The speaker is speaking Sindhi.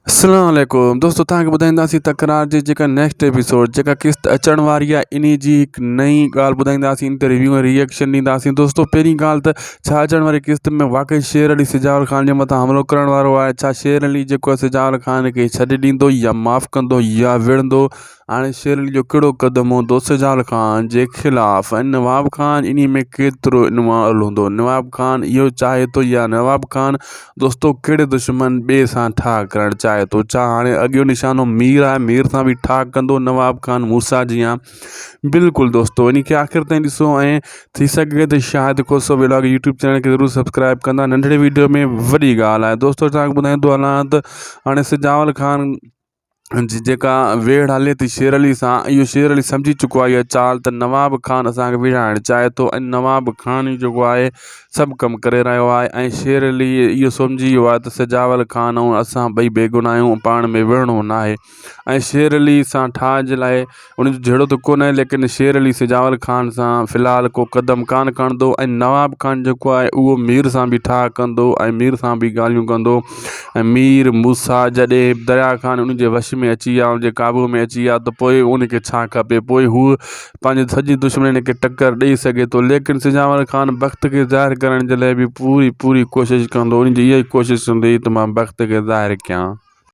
اسلام عليڪم دوستو توهان کي ٻڌائينداسين تڪرار جي جيڪا نيڪسٽ ايپيسوڊ جيڪا قسط اچڻ واري آهي انهي جي هڪ نئي ڳالهه ٻڌائينداسين ان تي ريويو ۽ ريئيڪشن ڏينداسين دوستو پهرين ڳالهه ته ڇا اچڻ واري قسط ۾ واقعي شير علي سجاول خان جي مٿان حملو ڪرڻ وارو آهي ڇا شير علي جيڪو سجاول خان کي ڇڏي ڏيندو يا معاف ڪندو يا وڙهندو هاڻي شيرلي جو ڪهڙو قدم هوندو سجال خان جي خلاف ۽ نواب خان انهي ۾ ڪيترو انوالو هوندو نواب خان اهو چاهي ٿو يا نواب خان دوستو ڪهڙي دشمن ٻئي سان ٺاهه ڪرڻ چاهي ٿو ڇا هاڻي اڳيون نشانو مير آهي مير سان به ٺاهه ڪندو نواب خان موسيٰ جيان بلڪل دوستو انهي کي آخر تائين ڏسو ۽ ٿي سگهي ته Shahid Khoso vlog YouTube channel کي ضرور سبسڪرائب ڪندا ننڍڙي ويڊيو ۾ وڏي ڳالهه آهي دوستو توهان کي ٻڌائيندو هلان ته هاڻي سجاول خان جيڪا ويڙهه هلي ٿي شير علي سان اهو شير علي سمجهي چڪو آهي اها چال ته نواب خان اسانکي ويڙهائڻ چاهي ٿو ۽ نواب خان ئي جيڪو آهي سڀ ڪم ڪري رهيو آهي ۽ شير علي اهو سمجهي ويو آهي ته سجاول خان ۽ اسان ٻئي بيگناهه آهيون پاڻ ۾ وڙهڻو ناهي ۽ شير علي سان ٺاهه جي لاء ان جو جهيڙو ته ڪونهي ليڪن شير علي سجاول خان سان في الحال ڪو قدم ڪانه کڻندو ۽ نواب خان جيڪو آهي اهو مير سان به ٺاهه ڪندو ۽ مير سان به ڳالهيون ڪندو ۽ مير موسيٰ جڏهن به دريا خان ان جي وش ۾ اچي ويا ان جي قابو ۾ اچي ويا ته پوء ان کي ڇا کپي پوء هو پنهنجي سڄي دشمنين کي ٽڪر ڏئي سگهي ٿو ليڪن سجاول خان بخت کي ظاهر ڪرڻ جي لاء به پوري پوري ڪوشش ڪندو ان جي اها ئي ڪوشش هوندي ته مان بخت کي ظاهر ڪيان